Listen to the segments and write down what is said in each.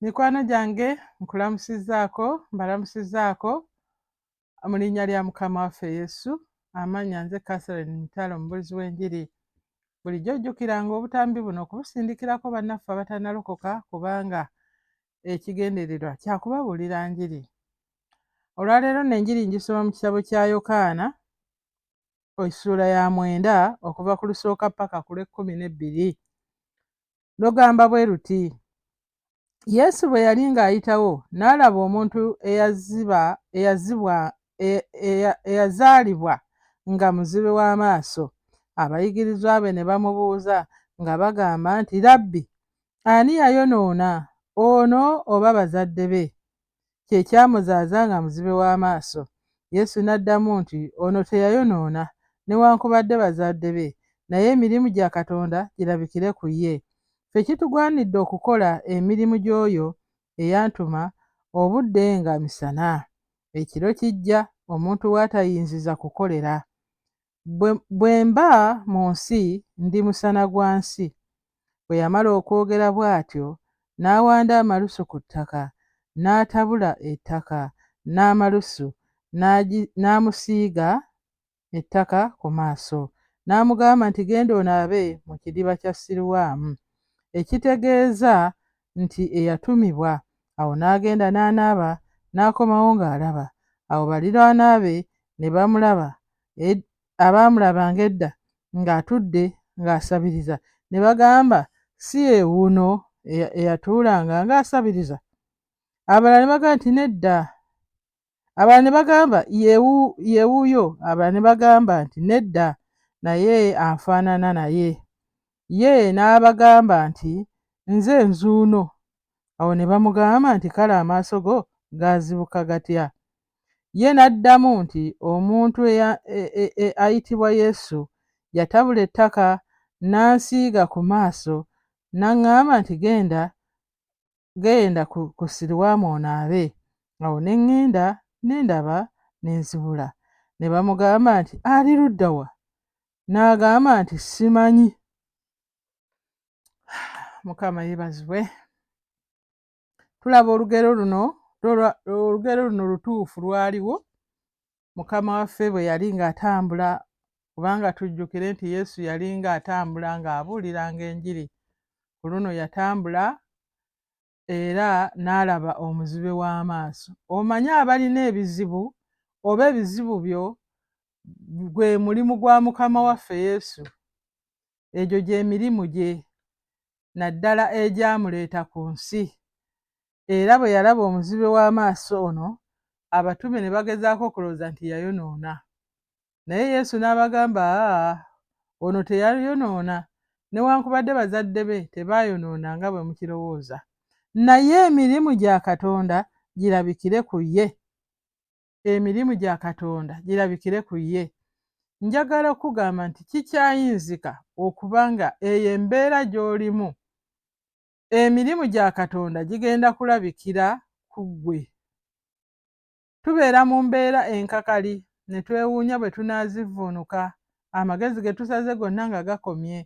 mikwano gyange nkulamusizaako mbalamusizaako mu linnya lya mukama waffe yesu amannya nze catherine mitalo omubulizi w'enjiri bulijjo ojjukiranga obutambi buno okubusindikirako bannaffe abatanalokoka kubanga ekigendererwa kyakubabuulira njiri olwaleero nenjiri njisoma mu kitabo kya yokaana essuula ya mwenda okuva ku lusooka ppaka ku lw'ekkumi n'ebbiri lugamba bwe luti yesu bwe yali ng'ayitawo n'alaba omuntu eyaziba eyazibwa e, e, eyazaalibwa nga muzibe w'amaaso abayigirizwa be ne bamubuuza nga bagamba nti rabbi ani yayonoona ono oba bazadde be kye kyamuzaaza nga muzibe w'amaaso. Yesu n'addamu nti, Ono teyayonoona, newankubadde bazadde be, naye emirimu gya Katonda girabikire ku ye. Ffe kitugwanidde okukola emirimu gy'oyo eyantuma obudde nga misana. Ekiro kijja, omuntu w'atayinziza kukolera. Bwe mba mu nsi, ndi musana gwa nsi. Bwe yamala okwogera bw'atyo, n'awanda amalusu ku ttaka, n'atabula ettaka n'amalusu, n'amusiiga ettaka ku maaso, n'amugamba nti, Genda onaabe mu kidiba kya Siruwaamu, ekitegeeza nti Eyatumibwa. Awo n'agenda n'anaaba, n'akomawo ng'alaba. Awo baliraanwa be ne bamulaba, abaamulabanga edda ng'atudde ng'asabiriza ne bagamba, Si ye wuuno eyatuulanga ng'asabiriza? Abalala ne bagamba nti, Nedda. Abalala ne bagamba, Ye wuuyo. Abalala ne bagamba nti, Nedda, naye afaanana naye. Ye n'abagamba nti, Nze nzuuno. Awo ne bamugamba nti, Kale amaaso go gaazibuka gatya? Ye n'addamu nti, Omuntu e, e, e, ayitibwa Yesu yatabula ettaka n'ansiiga ku maaso, n'aŋŋamba nti, Genda genda ku, ku siriwaamu onaabe. Awo ne ŋŋenda ne ndaba ne nzibula. Ne bamugamba nti, Ali ludda wa? N'agamba nti, Simanyi. Mukama yebazibwe. Tulaba olugero luno, olugero luno lutuufu lwaliwo Mukama waffe bwe yali ng'atambula, kubanga tujjukire nti Yesu yali ng'atambula ng'abuuliranga enjiri, ku luno yatambula era n'alaba omuzibe w'amaaso. Omanyi abalina ebizibu oba ebizibu byo gwe mulimu gwa Mukama waffe Yesu. Egyo gye mirimu gye, naddala egyamuleeta ku nsi. era bwe yalaba omuzibe w'amaaso ono, abatume ne bagezaako okulowooza nti yayonoona. Naye Yesu n'abagamba, Aa, ono teyayonoona, newankubadde bazadde be tebaayonoona nga bwe mukirowooza. Naye emirimu gya Katonda girabikire ku ye. Emirimu gya Katonda girabikire ku ye. Njagala okukugamba nti kikyayinzika okuba nga eyo embeera gy'olimu Emirimu gya Katonda gigenda kulabikira ku ggwe. Tubeera mu mbeera enkakali ne twewuunya bwe tunaazivvuunuka, amagezi ge tusaze gonna nga gakomye,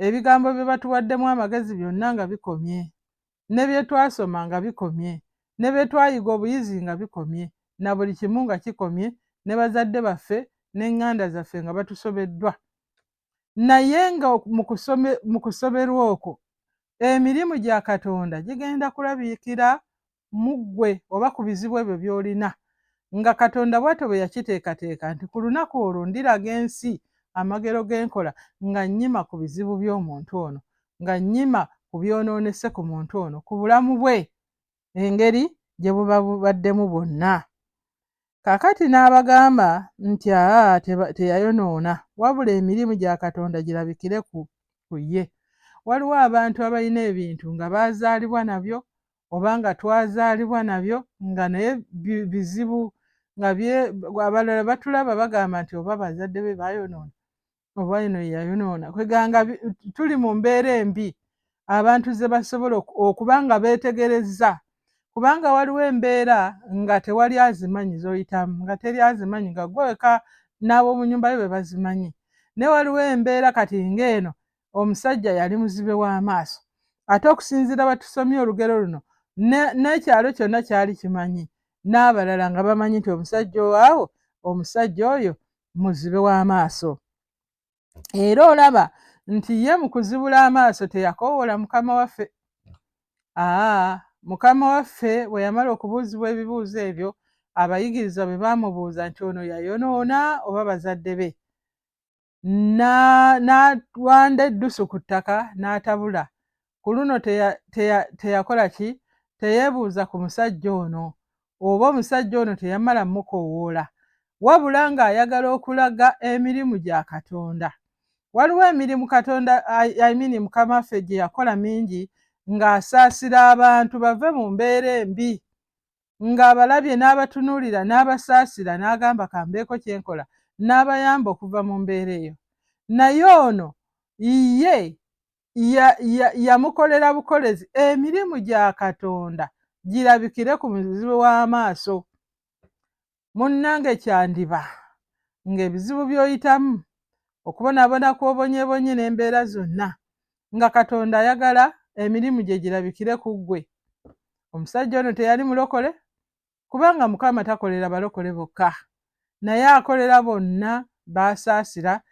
ebigambo bye batuwaddemu amagezi byonna nga bikomye, ne bye twasoma nga bikomye, ne bye twayiga obuyizi nga bikomye, na buli kimu nga kikomye, ne bazadde baffe n'eŋŋanda zaffe nga batusobeddwa. naye nga mu kusoberwa okwo emirimu gya katonda gigenda kulabikira mu ggwe oba ku bizibu ebyo by'olina nga katonda bwatyo bwe yakiteekateeka nti ku lunaku olwo ndiraga ensi amagero g'enkola nga nnyima ku bizibu by'omuntu ono nga nnyima ku byonoonese ku muntu ono ku bulamu bwe engeri gye buba bubaddemu bwonna. Kaakati n'abagamba nti aa teyayonoona, wabula emirimu gya Katonda girabikire ku, ku ye. Waliwo abantu abalina ebintu nga baazaalibwa nabyo, oba nga twazaalibwa nabyo, nga naye bizibu, nga bye, abalala batulaba bagamba nti oba bazadde be baayonoona. oba eno yeyayonoona kweganga tuli mu mbeera embi abantu ze basobola okuba nga beetegerezza kubanga waliwo embeera nga tewali azimanyi zoyitamu nga teri azimanyi nga gweweka n'ab'omu nyumba yo be bazimanyi ne waliwo embeera kati ng'eno omusajja yali muzibe w'amaaso ate okusinziira batusomye olugero luno n'ekyalo kyonna kyali kimanyi n'abalala nga bamanyi nti omusajja owawo omusajja oyo muzibe w'amaaso era olaba nti ye mu kuzibula amaaso teyakoowoola mukama waffe aa mukama waffe bwe yamala okubuuzibwa ebibuuzo ebyo abayigirizwa bwe baamubuuza nti ono yayonoona oba bazadde be n'awanda eddusu ku ttaka n'atabula ku luno teyakola ki teyeebuuza ku musajja ono oba omusajja ono teyamala mukowoola wabula ng'ayagala okulaga emirimu gya katonda waliwo emirimu katonda imini mukama ffe gye yakola mingi ng'asaasira abantu bave mu mbeera embi ng'abalabye n'abatunuulira n'abasaasira n'agamba kambeeko kye nkola n'abayamba okuva mu mbeera eyo naye ono ye yamukolera ya, ya bukolezi emirimu gya katonda girabikire ku muzibu w'amaaso munnange kyandiba ng'ebizibu by'oyitamu okubonaabona kw'obonyebonye n'embeera zonna nga katonda ayagala emirimu gye girabikire ku ggwe omusajja ono teyali mulokole kubanga Mukama takolera balokole bokka, naye akolera bonna b'asaasira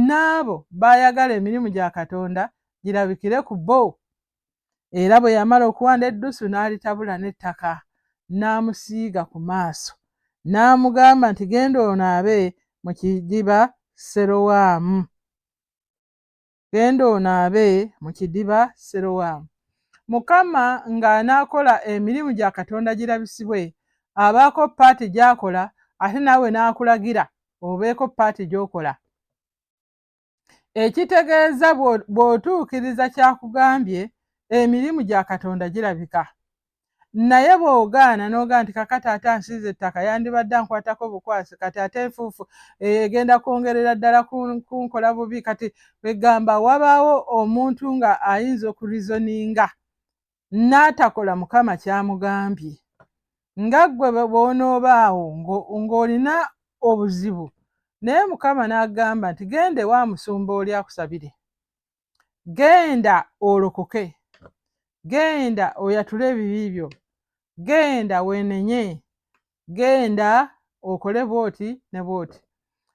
n'abo b'ayagala emirimu gya Katonda girabikire ku bo. Era bwe yamala okuwanda eddusu n'alitabula n'ettaka, n'amusiiga ku maaso, n'amugamba nti, Genda onaabe mu kidiba Serowaamu. Genda onaabe mu kidiba Sirowamu. Mukama ng'anaakola emirimu gya Katonda girabisibwe, abaako ppaati gy'akola ate naawe n'akulagira obeeko ppaati gy'okola. Ekitegeeza bw'otuukiriza ky'akugambye, emirimu gya Katonda girabika. naye bw'ogaana n'ogaa nti kakati ate ansiiza ettaka yandibadde ankwatako bukwasi kati ate enfuufu eh, egenda kwongerera ddala kunkola bubi kati egamba wabaawo omuntu nga ayinza okurizoninga n'atakola mukama kyamugambye nga ggwe bw'onoobaawo ng'olina obuzibu naye mukama n'agamba nti genda ewa musumba oli akusabire genda olokoke genda oyatule ebibi byo genda wenenye genda okole bwoti ne bwoti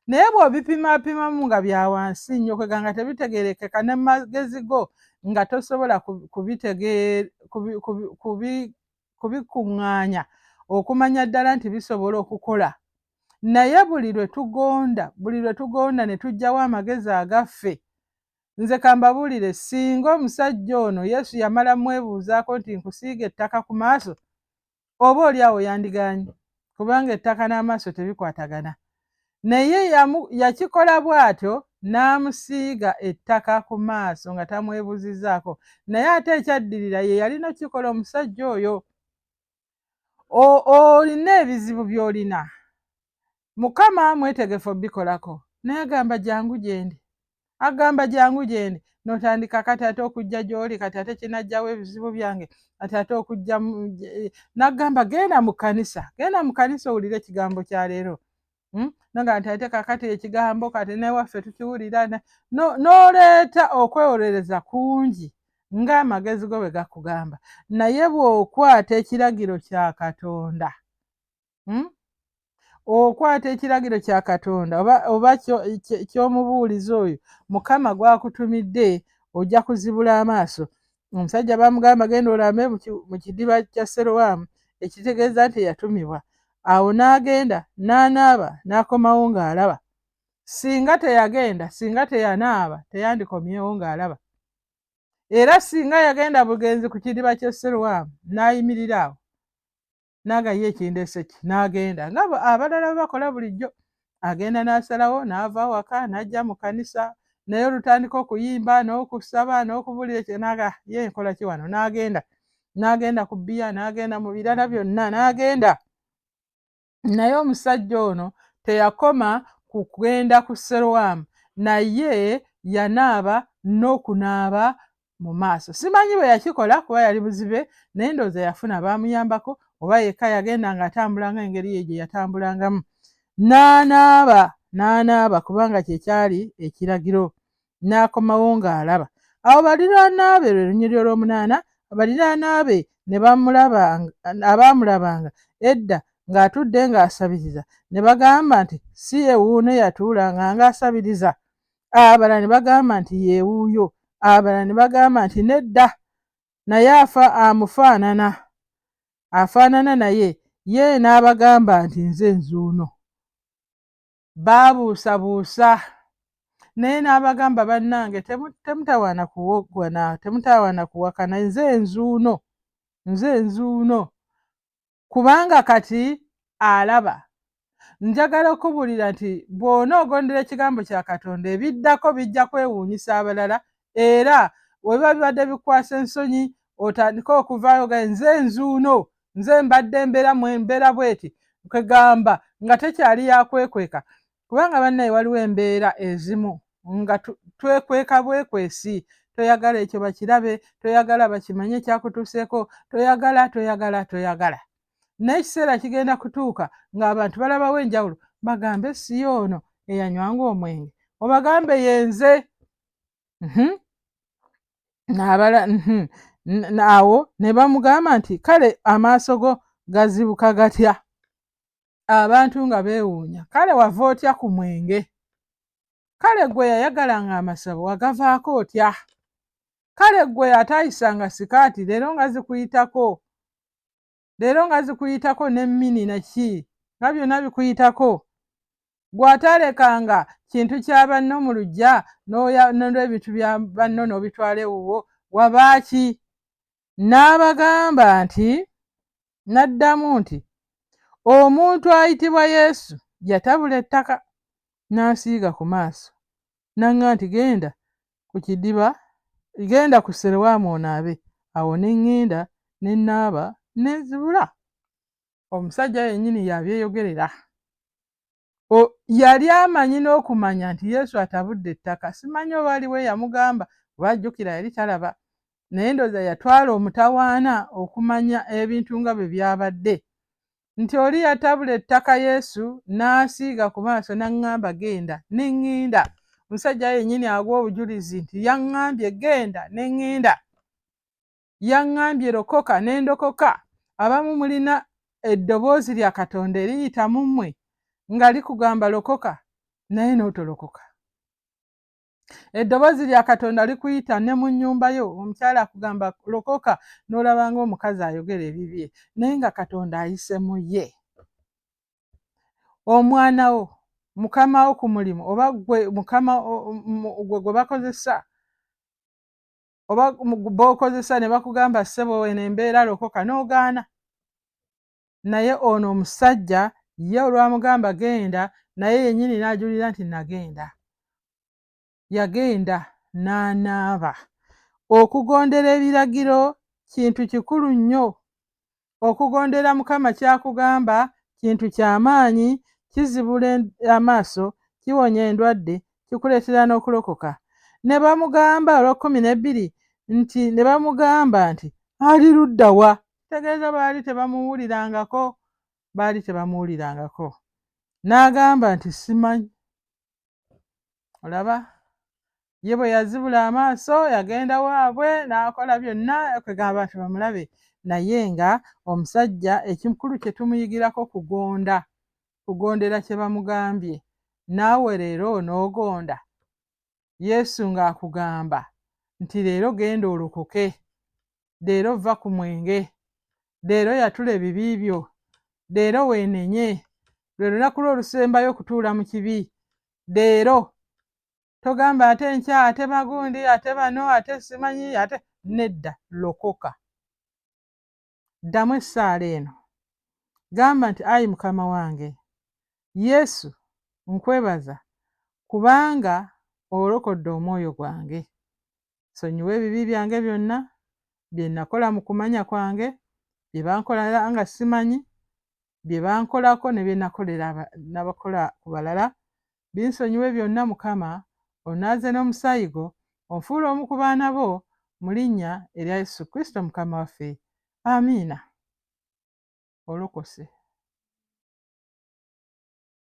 naye bwobipimapimamu nga byawansi nnyo kwega nga tebitegerekeka ne magezi go nga tosobola kubikuŋŋaanya okumanya ddala nti bisobola okukola naye buli lwe tugonda buli lwe tugonda ne tugyawo amagezi agaffe Nze kambabulire singa omusajja ono Yesu yamala mwebuuzaako nti nkusiiga ettaka ku maaso oba oli awo yandiganye kubanga ettaka n'amaaso tebikwatagana naye yakikola bw'atyo n'amusiiga ettaka ku maaso nga tamwebuzizaako naye ate ekyaddirira ye yalina okukikola omusajja oyo olina ebizibu by'olina mukama mwetegefu obikolako naye agamba jangu gyendi agamba jangu gyendi notandika kati ate okujja gy'oli kati ate kinajjawo ebizibu byange kati ate okujja nagamba genda mu kanisa genda mu kanisa owulire ekigambo kya leero Hmm? naga nti ate kakati ekigambo kati newaffe tukiwulira n'oleeta okwewolereza kungi ng'amagezi go bwe gakugamba naye bw'okwata ekiragiro kya katonda hmm? okwata ekiragiro kya katonda oba ky'omubuulizi oyo mukama gwakutumidde ojja kuzibula amaaso omusajja bamugamba genda olambe mu kidiba kya serowaamu ekitegeeza nti eyatumibwa awo n'agenda n'anaaba n'akomawo ng'alaba singa teyagenda singa teyanaaba teyandikomyewo ng'alaba era singa yagenda bugenzi ku kidiba ky'esserwamu n'ayimirira awo nanga ye kindeseki n'agenda nga abalala bwe bakola bulijjo agenda n'asalawo n'ava awaka n'ajja mu kanisa naye olutandika okuyimba n'okusaba n'okubulira ekyo naga ye nkola ki wano n'agenda n'agenda ku bbiya n'agenda mu birala byonna n'agenda naye omusajja ono teyakoma ku kugenda ku serowaamu naye yanaaba n'okunaaba mu maaso. Simanyi bwe yakikola kuba yali buzibe naye ndowooza yafuna baamuyambako oba yekka yagenda ng'atambulanga engeri ye gye yatambulangamu n'anaaba n'anaaba kubanga kye kyali ekiragiro n'akomawo ng'alaba. Awo baliraana be lwe lunyiriri olw'omunaana baliraana be ne bamulaba abaamulabanga edda ng'atudde ng'asabiriza ne bagamba nti si ye wuuno eyatuulanga ng'asabiriza abalala ne bagamba nti yeewuuyo abalala ne bagamba nti nedda naye afa amufaanana afaanana naye ye n'abagamba nti nze nzuuno baabuusabuusa naye n'abagamba bannange temutawaana kuwoggwana temutawaana kuwakana nze nzuuno nze nzuuno kubanga kati alaba njagala okubuulira nti bw'onoogondera ekigambo kya katonda ebiddako bijja kwewuunyisa abalala era webiba bibadde bikwasa ensonyi otandike okuvaayo ga nze nzuuno nze mbadde mbeera mbeera bweti kwegamba nga tekyali yakwekweka kubanga bannaye waliwo embeera ezimu nga twekweka bwekwesi toyagala ekyo bakirabe toyagala bakimanye ekyakutuuseeko toyagala toyagala toyagala naye ekiseera kigenda kutuuka ng'abantu balabawo enjawulo bagambe si yoono eyanywanga omwenge obagambe yenze mhm. nabala mhm. awo ne bamugamba nti kale amaaso go gazibuka gatya abantu nga beewuunya kale wava otya ku mwenge kale gwe yayagala nga amasabo wagavaako otya kale gwe atayisa nga sikaati leero nga zikuyitako leero nga zikuyitako ne mini naki nga byonna bikuyitako gw'ataalekanga kintu kya banno mu luggya n'olw'ebintu bya banno n'obitwala ewuwo wabaaki N'abagamba nti, n'addamu nti, Omuntu ayitibwa Yesu yatabula ettaka n'ansiiga ku maaso, n'aŋŋamba nti, Genda ku kidiba, genda ku Serewaamu onaabe. Awo ne ŋŋenda ne nnaaba ne nzibula. Omusajja yennyini y'abyeyogerera. yali amanyi n'okumanya nti yesu atabudde ettaka simanyi oba aliwo eyamugamba oba ajjukira yali talaba naye ndooza yatwala omutawaana okumanya ebintu nga bwe byabadde nti oli yatabula ettaka yesu n'asiiga ku maaso n'aŋŋamba genda ne ŋŋenda omusajja yennyini agwa obujulizi nti yaŋŋambye genda ne ŋŋenda yaŋŋambye lokoka ne ndokoka abamu mulina eddoboozi lya katonda eriyita mu mmwe nga likugamba lokoka naye n'otolokoka eddoboozi lya katonda likuyita ne mu nnyumba yo omukyala akugamba lokoka n'olaba nga omukazi ayogera ebibye naye nga katonda ayise mu ye omwana wo mukama wo ku mulimu oba gwe mukama gwe gwe bakozesa oba bokozesa nebakugamba sebo eno embeera lokoka nogaana naye ono omusajja ye olwamugamba genda naye yenyini najulira nti nagenda yagenda nanaaba okugondera ebiragiro kintu kikulu nnyo okugondera mukama kyakugamba kintu kyamaanyi kizibula amaaso kiwonya endwadde kikuleetera n'okulokoka ne bamugamba olwakumi nebbiri nti ne bamugamba nti ali ludda wa kitegeeza baali tebamuwulirangako baali tebamuwulirangako n'agamba nti simanyi olaba ye bwe yazibula amaaso yagenda waabwe n'akola byonna kwegamba nti bamulabe naye nga omusajja ekikulu kye tumuyigirako kugonda kugondera kye bamugambye naawe leero onoogonda yesu ng'akugamba nti leero genda olokoke leero vva ku mwenge leero yatula ebibi byo leero weenenye lwe lunaku lwo olusembayo okutuula mu kibi leero togamba ate nkya ate bagundi ate bano ate simanyi ate nedda lokoka ddamu essaala eno gamba nti ayi mukama wange yesu nkwebaza kubanga olokodde omwoyo gwange Nsonyiwa ebibi byange byonna, bye nakola mu kumanya kwange, bye bankolera nga simanyi, bye bankolako ne bye nakolera nabakola ku balala. Binsonyiwe byonna, Mukama. Onaaze n'omusaayi gwo, onfuule omu ku baana bo, mu linnya erya Yesu Kristo Mukama waffe. Amiina. Olokose.